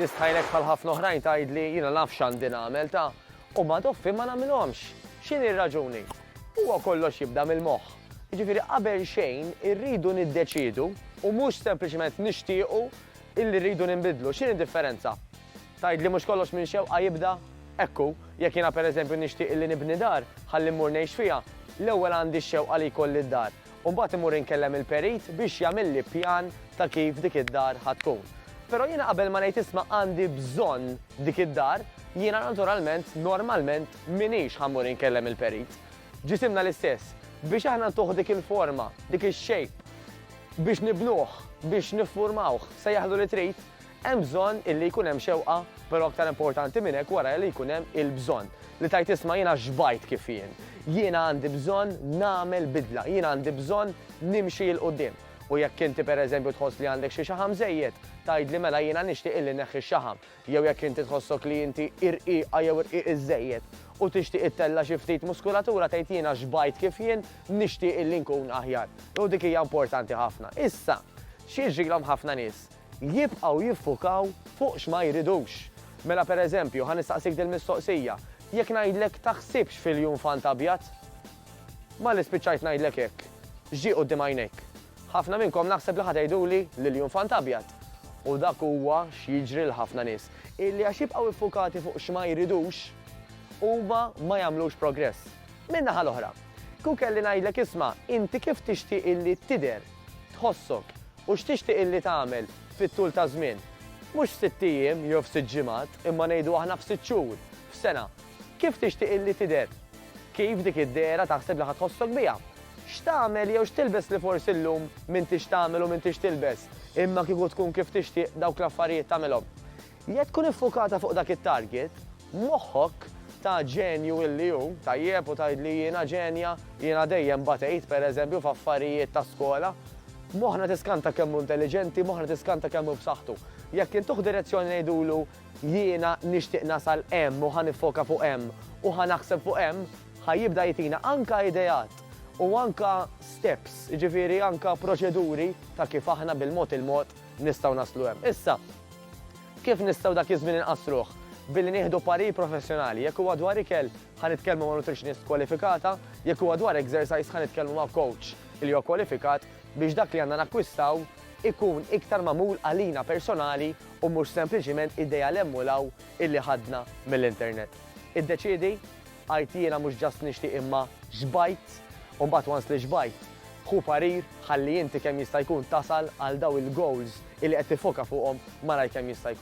nistħajlek bħal ħafna oħrajn tgħidli jiena naf x'għandi nagħmel ta' u ma doffi ma nagħmilhomx. X'inhi r-raġuni? Huwa kollox jibda mill-moħħ. Jiġifieri qabel xejn irridu niddeċiedu u mhux sempliċement nixtiequ illi rridu ninbidlu. X'inhi d-differenza? Tgħidli mhux kollox minn xewqa jibda? Hekk hu. Jekk jiena pereżempju nixtieq illi nibni dar ħalli mmur ngħix fiha, l-ewwel għandi x-xewqa li jkolli d-dar. U mbagħad immur inkellem il-perit biex jagħmilli pjan ta' kif dik id-dar ħa tkun. Però jiena qabel ma ngħid isma' għandi bżonn dik id-dar, jiena naturalment, normalment, M'iniex ħa mmur inkellem il-perit. Ġisimna l-istess. Biex aħna ntuh dik il-forma, dik ix-shape, biex nibnuh, biex niffurmawh, sejjaħlu li trid, hemm bżonn illi jkun hemm xewqa, però aktar importanti minn hekk wara li jkun hemm il-bżonn. Li tgħid isma' jiena xbajt kif jien. Jiena għandi bżonn nagħmel bidla. Jiena għandi bżonn nimxi 'l quddiem. U jekk inti pereżempju tħoss li għandek xi xaħam żejjed, tgħidli mela jiena nixtieq illi nneħħi x-xaħam. Jew jekk inti tħossok li inti irqiqa jew irqiq iżżejjed u tixtieq ittella' xi ftit muskulatura tgħid jiena xbajt kif jien nixtieq illi nkun aħjar. U dik hija importanti ħafna. Issa, x'jiġrilhom ħafna nies? Jibqgħu jiffukaw fuq x'ma jridux. Mela pereżempju, ħa nistaqsik dil-mistoqsija, jekk ngħidlek taħsibx fil-junfant abjad? Malli spiċċajt ngħidlek hekk, x'ġie quddiem għajnejk? Ħafna minnkom naħseb li ħa tgħiduli li l-jum f'għand abjad. U dak huwa x'jiġri lil ħafna nies, illi għax jibqgħu iffukati fuq x'ma jridux, huma ma jagħmlux progress. Min-naħa l-oħra, kieku kelli ngħidlek isma' inti kif tixtieq illi tidher, tħossok, u x'tixtieq illi tagħmel fit-tul taż-żmien, mhux f'sitt ijiem jew f'sitt ġimgħat, imma ngħidu aħna f'sitt xhur, f'sena, Kif tixtieq illi tidher? Kif dik id-dehra taħseb li ħa tħossok biha? X'tagħmel jew x'tilbes li forsi llum m'intix tagħmel u m'intix tilbes, imma kieku tkun kif tixtieq dawk l-affarijiet tagħmilhom? Jekk tkun iffukata fuq dak it-target, moħħok, ta' ġenju illi hu, tajjeb u tgħidli jiena ġenja, jiena dejjem batejt, pereżempju, f'affarijiet ta' skola. Moħħna tiskanta kemm hu intelliġenti, moħħna tiskanta kemm hu b'saħħtu. Jekk intuh direzzjoni ngħidulu Jiena nixtieq nasal hemm u ħa niffoka fuq hemm u ħa naħseb fuq hemm, ħa jibda jtina anka ideat u anka steps, jiġifieri anka proċeduri ta' kif aħna bil-mod il-mod nistgħu naslu hemm. Issa, kif nistgħu dak iż-żmien inqassruh? Billi nieħdu parir professjonali. Jekk huwa dwar ikel, ħa nitkellmu ma' nutritionist kwalifikata, jekk huwa dwar exercise ħa nitkellmu ma' coach li huwa kwalifikat biex dak li għandna nakkwistaw ikun iktar magħmul għalina personali u mhux sempliċiment idea l-hemm u l-hawn illi ħadna mill-internet. Iddeċiedi, għidt jiena mhux just nixtieq imma xbajt u mbagħad once li xbajt, ħu parir ħalli inti kemm jista' jkun tasal għal dawn il-goals illi qed tiffoka fuqhom malajr kemm jista' jkun.